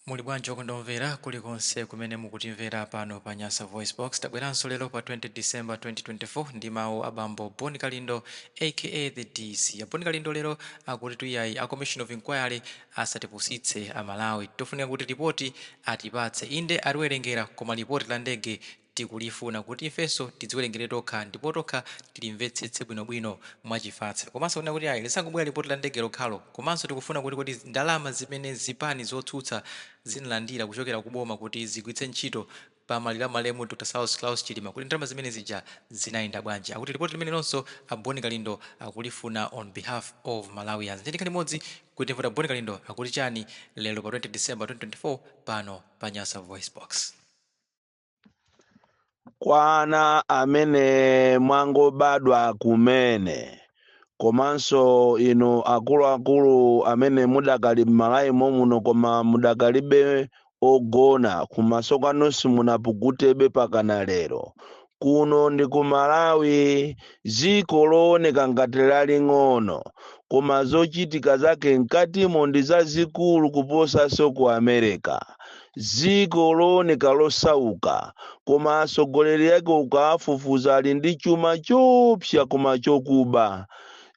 Muli bwanji okondwa omvera kulikonse kumene mukutimvera pano pa Nyasa VoiceBox. Tabweranso lero pa 20 December 2024 ndi mawu a bambo Bon Kalindo aka the DC. A Bon Kalindo lero akutitu iyayi a Commission of Inquiry asatipusitse a Malawi. Tofunika kuti lipoti atipatse. Inde atiwerengera koma lipoti la ndege Tikulifuna kuti ifenso tidziwerengere tokha ndipo tokha tilimvetsetse bwinobwino mwachifatse. Komanso kunena kuti ayi lisangobwera lipoti la ndege lokhalo. Komanso tikufuna kuti kodi ndalama zimene zipani zotsutsa zinalandira kuchokera ku boma kuti zigwiritse ntchito pa maliro a malemu Dr Saulos Klaus Chilima kuti ndalama zimene zija zinayenda bwanji. Akuti lipoti limenelonso a Boni Kalindo akulifuna on behalf of Malawians. Ndiye tikhale limodzi kuti timve kuti a Boni Kalindo akuti chani lero pa 20 December 2024 pano pa Nyasa VoiceBox. kwa ana amene mwangobadwa kumene komanso inu akuluakulu amene mudakali m'malawi momuno koma mudakalibe ogona kumasoko simunapukutebe pakana lero kuno ndi ku Malawi dziko looneka ngati laling'ono koma zochitika zake mkatimo ndi zazikulu kuposanso ku America dziko looneka losauka koma atsogoleri ake ukawafufuza ali ndi chuma choopsa koma chokuba,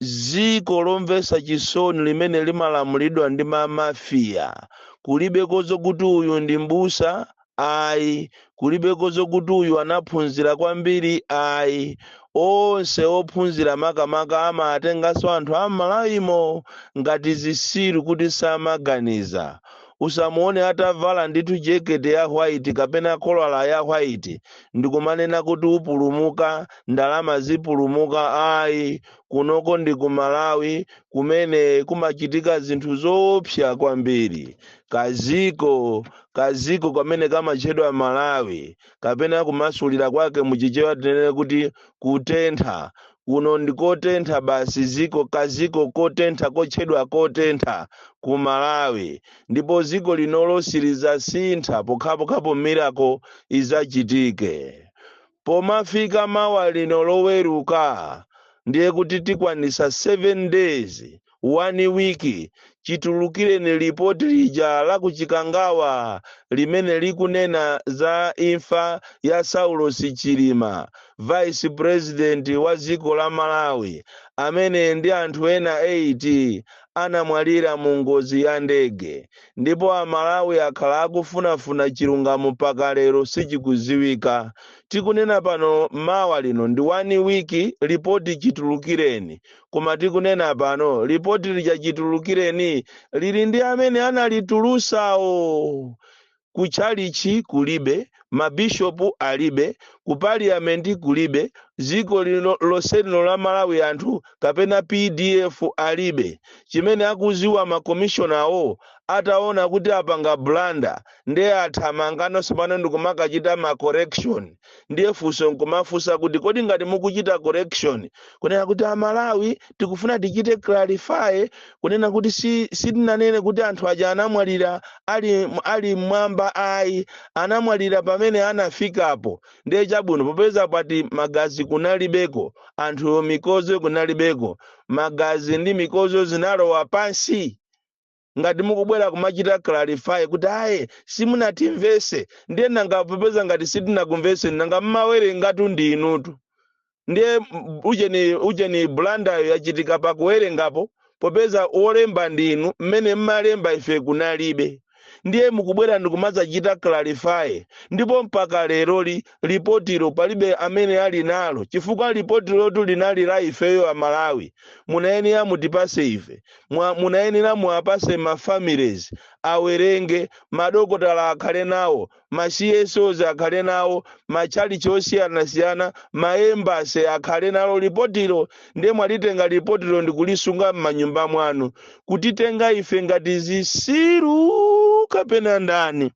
dziko lomvetsa chisoni limene limalamulidwa ndi ma mafia, kulibeko zokuti uyu ndi m'busa ayi, kulibeko zokuti uyu anaphunzira kwambiri ayi, onse ophunzira makamaka amatenganso anthu a m'Malawimo ngati zitsiru kuti samaganiza, Usamuone atavala ndithu jekete ya white kapena kolala ya white ndikumanena kuti upulumuka, ndalama sizipulumuka ayi. Kunoko ndi ku Malawi kumene kumachitika zinthu zoopsa kwambiri. Kaziko, kaziko kamene kamatchedwa Malawi kapena kumasulira kwake mu Chichewa tinene kuti kutentha. Kuno ndi kotentha basi ziko kaziko kotentha kotchedwa kotentha ku Malawi ndipo ziko linolo silizasintha pokhapokhapo miracle izachitike. Pomafika mawa lino loweruka ndiye kuti tikwanisa 7 days One week chitulukireni report lija la ku Chikangawa limene likunena za imfa ya Saulosi Chilima, vice president wa dziko la Malawi amene ndi anthu ena 8 anamwalira mu ngozi ya ndege ndipo a Malawi akhala akufunafuna chilungamo mpaka lero sichikudziwika. Tikunena pano mawa lino ndi one week report chitulukireni Koma tikunena pano, lipoti lija chitulukireni lili ndi amene analitulusawo. Ku tchalitchi kulibe, mabishopu alibe, ku parliament kulibe, dziko lino lonse lino la Malawi anthu kapena pdf alibe. Chimene akudziwa ma commissionerwo ataona kuti apanga blunder nde athamanga no tsopano ndikumakachita ma correction. ndiye funso nkumafunsa kuti kodi ngati mukuchita correction kunena kuti amalawi tikufuna tichite clarify kunena kuti si sitinanene kuti anthu aja anamwalira ali ali mmwamba ayi anamwalira pamene anafikapo ndiye chabwino popeza mwati magazi kunalibeko anthu mikozo kunalibeko magazi ndi mikozo zinalowa pansi ngati mukubwera kumachita clarify kuti ayi simunatimvese ndiye nanga popeza ngati sitinakumveseni nanga mmawerenga ndi inutu ndiye m- ujeni ujeni blunder yo yachitika pakuwerengapo popeza olemba ndi inu mmene mmalemba ife kunalibe ndiye mukubwera ndikumadzachita clarify ndipo mpaka leroli lipotilo palibe amene ali nalo chifukwa lipotilotu linali la ifeyo amalawi munayenera mutipase ife mwa munayenera muwapase ma families awerenge, madokotala akhale nawo, ma CSOs akhale nawo, matchalitchi osiyanasiyana, ma embassies akhale nalo lipotilo ndiye mwalitenga lipotilo ndikulisunga m'manyumba mwanu kutitenga ife ngati zisiru kapena ndani?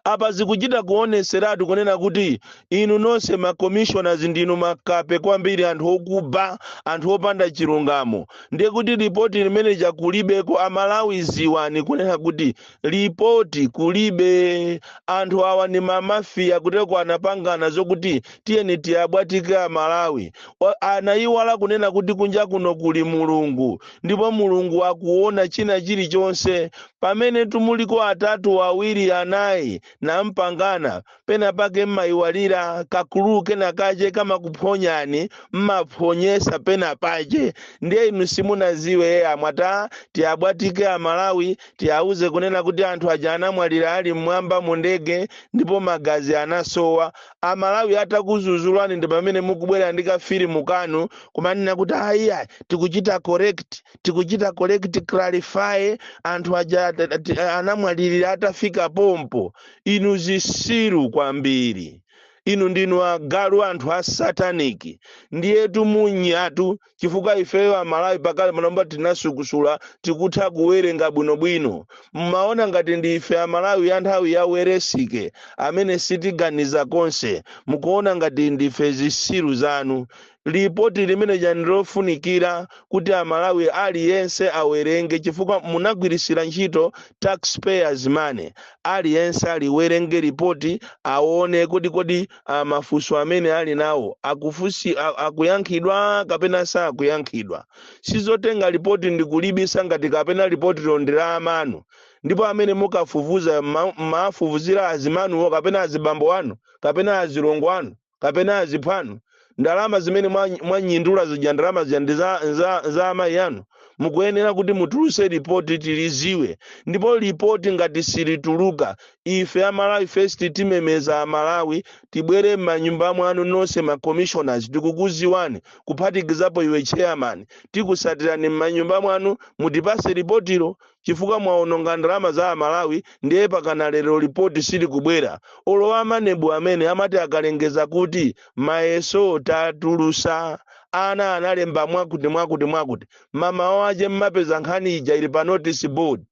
apa zikuchita kuoneseratu kunena kuti inu nonse ma commissioners ndinu makape kwambiri anthu okuba anthu opanda chilungamo ndiye kuti lipoti limene lija kulibeko amalawi ziwani kunena kuti lipoti kulibe anthu awa ni mamafiya kuteroko anapangana zokuti tiyeni tiwabwatike amalawi Wa- anayiwala kunena kuti kunja kuno kuli mulungu ndipo mulungu akuona china chilichonse Pamene mulipo atatu, awiri, anai, nampangana, pena pake mmaiwalira, kaclue kena kace kamakuphonyani, mmaphonyesa pena pace, ndiye inu simunaziwe, mwati a, tiwabwatike a Malawi, tiwauze kunena kuti anthu aja anamwalira ali mmwamba mu ndege, ndipo magazi anasowa. A Malawi atakuzuzulani ndipamene mukubwera ndi ka filimu kanu, kumanena kuti ayi ayi, tikucita correct. tikuchita correct clarify anthu aja at- at- anamwalirira atafika pompo inu zisiru kwambiri inu ndinu agalu anthu a sataniki ndiyetu munyatu chifukwa ifeyo amalawi pakalipano mba tinasukusula tikutha kuwerenga bwinobwino mmaona ngati ndi ife amalawi a nthawi ya Welensky amene sitiganiza konse mukuona ngati ndife zisiru zanu lipoti limeneja ndilofunikira kuti mmalawi aliyense awerenge chifukwa munagwirisira ntchito taxpayers money aliyense aliwerenge lipoti aone kodi kodi ah, mafunso amene ali nawo akufusi a- akuyankhidwa kapena sakuyankhidwa sizotenga lipoti ndikulibisa ngati kapena lipotilo ndi la amanu ndipo amene mukafufuza ma- mmafufuzira azimanuwo kapena azibambo anu kapena azilongo anu kapena aziphwanu ndalama zimene mwa- mwanyindula zija ndalama zija ndi za, za, za amayi anu mukuyenera kuti mutuluse lipoti tiliziwe ndipo lipoti ngati silituluka ife amalawi first timemeza amalawi tibwere m'manyumba mwanu nonse ma commissioners tikukuziwani kuphatikizapo iwe chairman tikusatirani m'manyumba mwanu mutipase lipotilo chifukwa mwaononga ndalama za amalawi ndiye pakana lero lipoti silikubwera olo amanebu amene amati akalengeza kuti mayeso tatulusa ana analemba mwakuti mwakuti mwakuti mamawa ache mmapeza nkhani ija ili pa notice board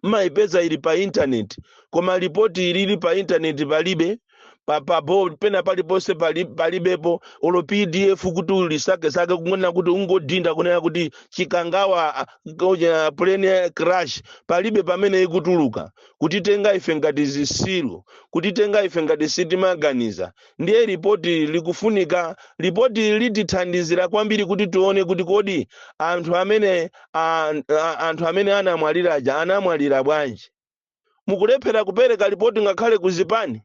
mmayipeza ili pa intaneti koma lipoti ilili pa intaneti palibe pa pa board pena paliponse pali- palibepo olo pdf kuti ulisakesake kunena kuti ungodinda kunena kuti chikangawa ah, koja plane crash palibe pamene ikutuluka kutitenga ife ngati zitsiru kutitenga ife ngati sitimaganiza ndiye ripoti likufunika ripoti litithandizira kwambiri kuti tione kuti kodi anthu amene ah, ah, anthu amene anamwalira aja anamwalira bwanji mukulephera kupereka lipoti ngakhale ku zipani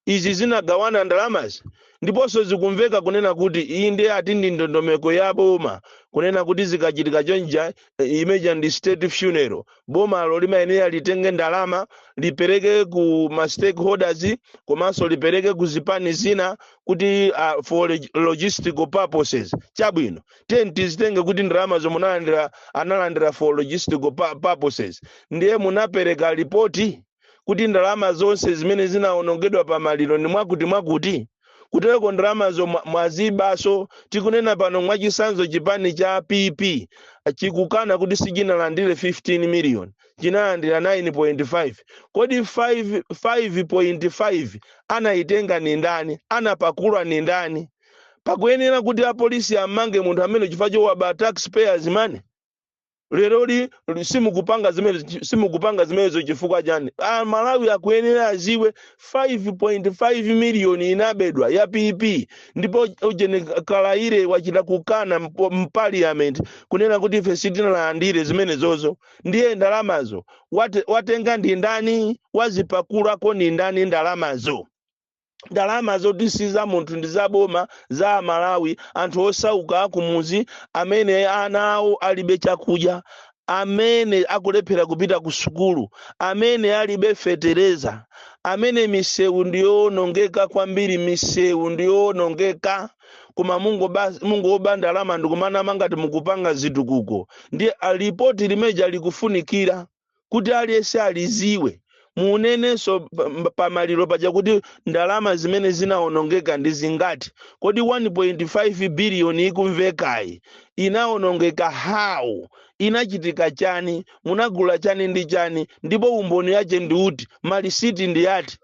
izi zinagawana ndalamazi ndiponso zikumveka kunena kuti iyi ndiye ati ndi ndondomeko ya boma kunena kuti zikachitika chonja eh, imene ija ndi state funeral bomalo limayenera litenge ndalama lipereke ku ma stakeholders komanso lipereke ku zipani zina kuti uh, for log- logistical purposes chabwino tizitenge kuti ndalama zomwe munalandira analandira for logistical pa- purposes ndiye munapeleka lipoti kuti ndalama zonse zimene zinawonongedwa pa maliro ndi mwakuti mwakuti kutereko ndalamazo mwa- mwazibaso tikunena pano mwachisanzo chipani cha pp chikukana kuti sichinalandire 15 million chinalandira 9.5 kodi 5 5.5 anayitenga ni ndani anapakula ni ndani pakuyenera kuti apolisi ammange munthu amene chifukwa chowaba taxpayers money leroli simukupanga zimene simukupanga zimenezo chifukwa chani amalawi akuyenera aziwe 5.5 miliyoni inabedwa ya pp ndipo ujeni kalaile wachita kukana mpo- mpaliyamenti kunena kuti ife sitinalandire zimenezozo ndiye ndalamazo wate- watenga ndi ndani wazipakulako ndi ndani ndalamazo ndalama zoti si za munthu ndi za boma za amalawi anthu osauka akumuzi amene ana awo alibe chakudya amene akulephera kupita ku sukulu amene alibe fetereza amene misewu ndiyowonongeka kwambiri misewu ndiyowonongeka koma mungoba- mungoba ndalama ndikumanama ngati mukupanga zitukuko ndiye lipoti limeja likufunikira kuti aliyense aliziwe munenenso pa- pamaliro paja kuti ndalama zimene zinawonongeka ndi zingati kodi 1.5 biliyoni ikumvekayi inawonongeka how inachitika chani munagula chani ndi chani ndipo umboni yache ndi uti malisiti ndi ati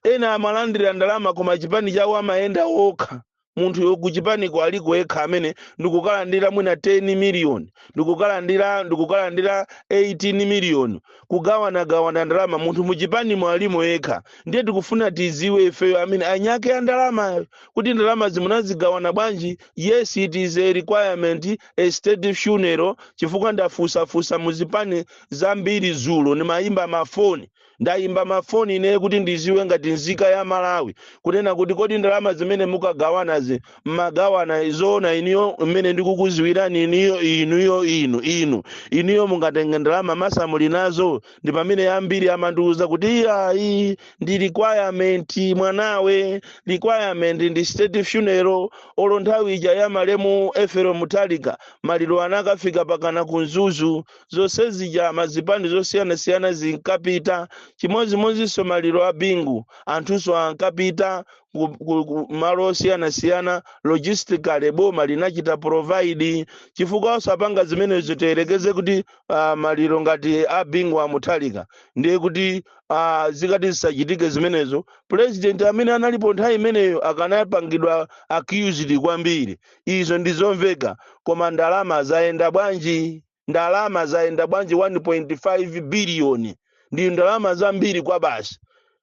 ena amalandira ndalama koma chipani chawo amayenda okha munthuyo kuchipaniko aliko yekha amene ndikukalandira mwina 10 miliyoni ndikukalandira ndikukalandira 18 miliyoni kugawanagawana ndalama munthu muchipanimo alimo yekha ndiye tikufuna tiziwe ifeyo amene anyake ya ndalamayo kuti ndalama zimene zagawana bwanji yes it is a requirement a state funeral chifukwa ndafusafusa muzipani zambiri zulo ndimayimba mafoni Ndayimba ma phone inee kuti ndiziwe ngati nzika ya Malawi kunena kuti kodi ndalama zimene mukagawanazi mmagawana zoona inuyo mmene ndikukuziwirani inuyo inuyo inu inu inuyo mungatenge ndalama mmatsamuli nazo ndi pamene ambiri amandiuza kuti iyayi ndi requirement mwanawe requirement ndi state funeral olo nthawi ija ya malemu Efero Mutalika maliro anakafika pakana ku Mzuzu zonse zija mazipani zosiyanasiyana zinkapita chimodzimodzinso maliro a bingu anthunso ankapita ku- ku- ku malo osiyanasiyana logistically boma linachita provide chifukwa asapanga zimenezo tiyerekeze kuti uh, maliro ngati a bingu amuthalika ndiye kuti uh, zikati zisachitike zimenezo president amene analipo nthawi imeneyo akanapangidwa accused kwambiri Izo ndi zomveka, koma ndalama zayenda bwanji? Ndalama zayenda bwanji 1.5 biliyoni? Ndi ndalama zambiri kwabasi.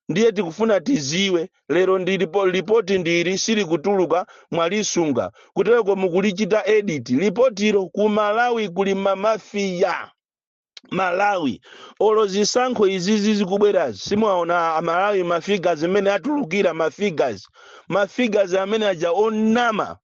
Ndiye tikufuna tiziwe, lero ndi lipo- lipoti ndi ili silikutuluka mwalisunga. Kuteroko mukulichita edit lipotilo ku Malawi kuli ma mafia. malawi olo zisankho izizi zikubwerazi simunaona amalawi mafigas mmene atulukira mafigas mafigas amene aja onama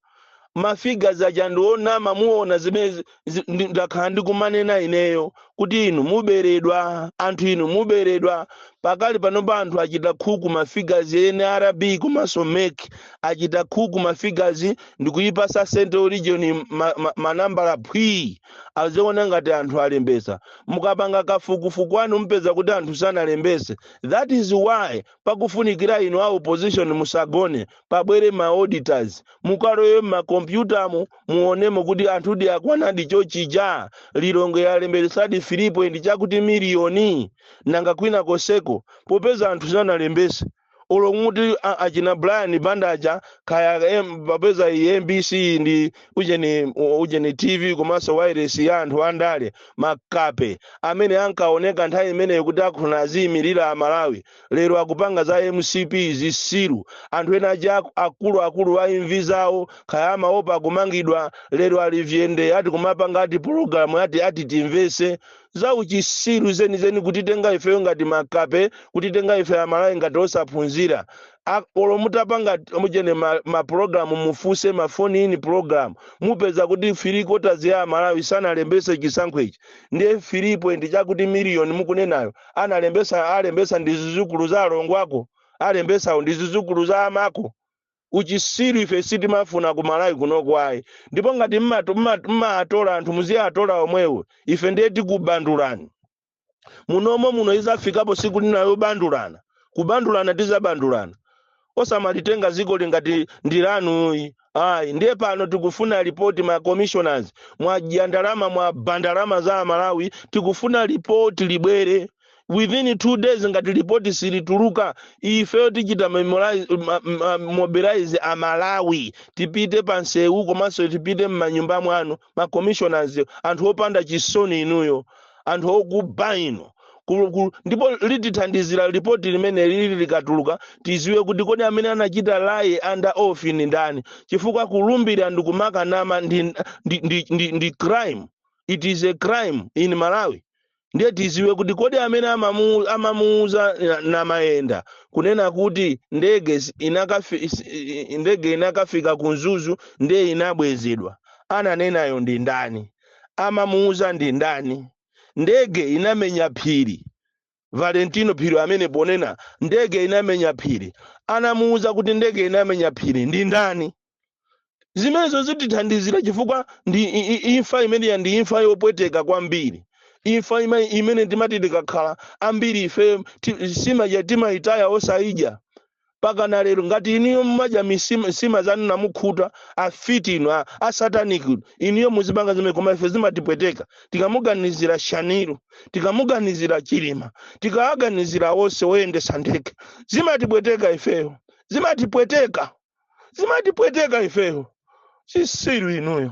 mafigas aja ndi onama muona zimene zi- zi- ndi- ndakhala ndikumanena ineyo kuti inu muberedwa anthu inu muberedwa pakali panopa anthu achita khuku mafigas nrb komanso mek achita khuku mafigas ndikuyipasa central region ma- ma- manambala phwii aziona ngati anthu alembesa mukapanga kafukufuku wanu mupeza kuti anthu sanalembese that is why pakufunikira inu a opposition musagone pabwere ma auditors mukalowe mmakompyutamu muonemo kuti anthudi akwanadi chochija lilongwe yalembesadi 3 point chakuti miliyoni nanga kwina koseko popeza anthu sanalembese olo muti a- achina brian banda aja kaya em- papeza iyi mbc ndi ujeni ujeni tv komanso wireless ya anthu andale makape amene ankaoneka nthawi imeneyo kuti akuna aziyimirira amalawi lero akupanga za mcp zisiru anthu ena aja aku- akuluakulu a imvi zawo kaya amaopa kumangidwa lero ali vyende ati kumapanga ati pologalamu ati ati timvese za uchisiru zenizeni kutitenga ifeyo ngati makape kutitenga ife amalawi ngati osaphunzira A- olo mutapanga mujeni ma, ma program mufuse ma phone in program mupeza kuti 3 quarters ya amalawi sanalembese chisankho ichi ndiye 3 point chakuti million mukunenayo analembesa alembesa ndi zizukulu za alongo ako alembesawo ndi zizukulu za amako uchisiru ife sitimafuna ku malawi kunoko ayi ndipo ngati mmato- mma- mmaatola anthu muziatola omwewo ife ndiye tikubandulani munomo muno izafikapo siku lina yobandulana kubandulana tizabandulana osamalitenga ziko ili ngati ndi lanu ayi ndiye pano tikufuna lipoti ma commissioners mwadya ndalama mwaba ndalama za amalawi tikufuna lipoti libwere within two days ngati lipoti silituluka ifeyo tichita memorize- ma- ma- mobilize amalawi tipite pa nsewu komanso tipite m'manyumba mwanu ma commissioners anthu opanda chisoni inuyo anthu okuba inu Ku- ku- ndipo litithandizira lipoti limeneli likatuluka tiziwe kuti kodi amene anachita laye under oath ni ndani chifukwa kulumbira ndi kumakanama ndi, ndi, ndi, ndi, ndi crime it is a crime in malawi ndiye tiziwe kuti kodi amene amamu- amamuuza na- namayenda kunena kuti ndege zi- inakafi, is- i- i- ndege inakafika ku mzuzu ndiye inabwezedwa ananenayo ndi ndani amamuuza ndi ndani ndege inamenya phiri valentino phiri amene ponena ndege inamenya phiri anamuuza kuti ndege inamenya phiri ndi ndani zimenezo zitithandizira chifukwa ndi i- i- imfa imeneya ndi imfa yopweteka kwambiri imfa ima- imene timati tikakhala ambiri ife ti- sima timayitaya osayidya pakana lero ngati inuyo mumadya misima zanu namukhuta afiti inu a- asataniki inu inuyo muzipanga zimene koma ife zimatipweteka tikamuganizira shanil tikamuganizira chilima tikawaganizira onse oyendesa ndege zimatipweteka ifeyo zimatipweteka zimatipweteka ifeyo chisiru inuyo